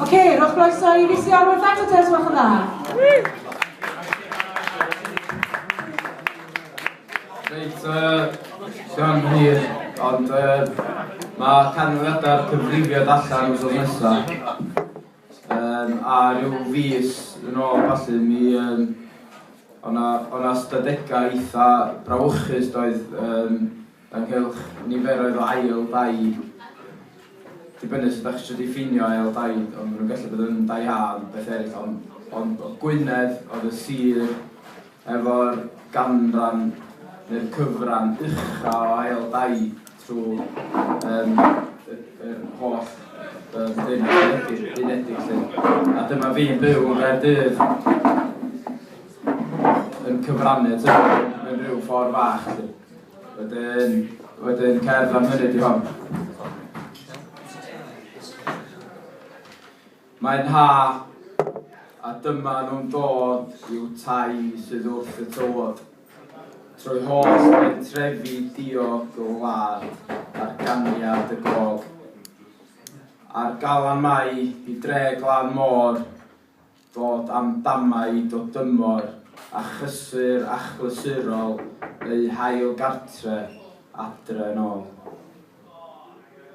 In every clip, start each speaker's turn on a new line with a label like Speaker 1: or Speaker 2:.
Speaker 1: Ok, rhowch groeso i Risi Arwen
Speaker 2: Ffato Tez, welch yn dda. Reit, Sian Hir, ond mae canfyddiadau'r cyfrifiad allan wrth nesaf. Um, a rhyw fus yn ôl, falle, mi um, o'na, o'na stadegau eitha brawychus doedd um, ynghylch niferoedd o ail dai dibynnu sut dach chi isio diffinio ail dai ond ma' nhw'n gallu bod yn dai A ond beth eraill ond ond o Gwynedd oedd y sir efo'r ganran neu'r cyfran ucha o ail dai trwy um, y, y holl um, unedig, unedig lle. A dyma fi'n byw yn Gaerdydd yn cyfrannu at hynny mewn rhyw ffordd fach. Wedyn, wedyn cerdd am hynny di hon. Mae'n ha, a dyma nhw'n dod i'w tai sydd wrth y tywod. Trwy hos yn trefi diog y wlad ar ganiad y gog. A'r galan mai i dre glan môr dod am damau do dymor a chysur achlysurol eu hail gartre adre yn ol.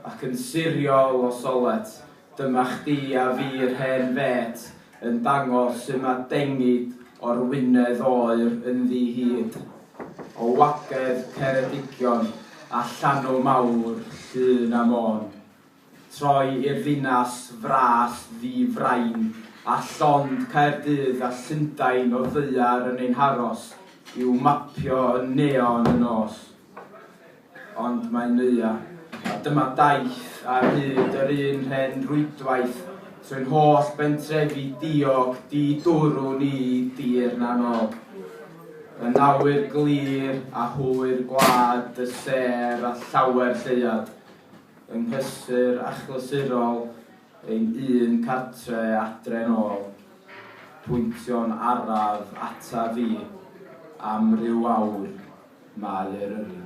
Speaker 2: Ac yn siriol o solet, dyma chdi a fi yr hen fêt yn dangos su ma dengid o'r wynedd oer ynddi hyd o wagedd Ceredigion a llanw mawr Llŷn a Môn. Troi i'r ddinas fras ddi frain a llond Caerdydd a Llundain o ddaear yn ein haros i'w mapio yn neon y nos. Ond mae Neuadd, a dyma daith ar hyd yr un rhen rwydwaith trwy'n holl bentrefi diog di-dwrw ni dir na nol. Yn awyr glir a hwyr gwlad y sêr a llawer lleuad. Yng nghysur achlysurol ein un cartre adre'n ôl, pwyntio'n araf ataf i, am ryw awr, mae Eryri.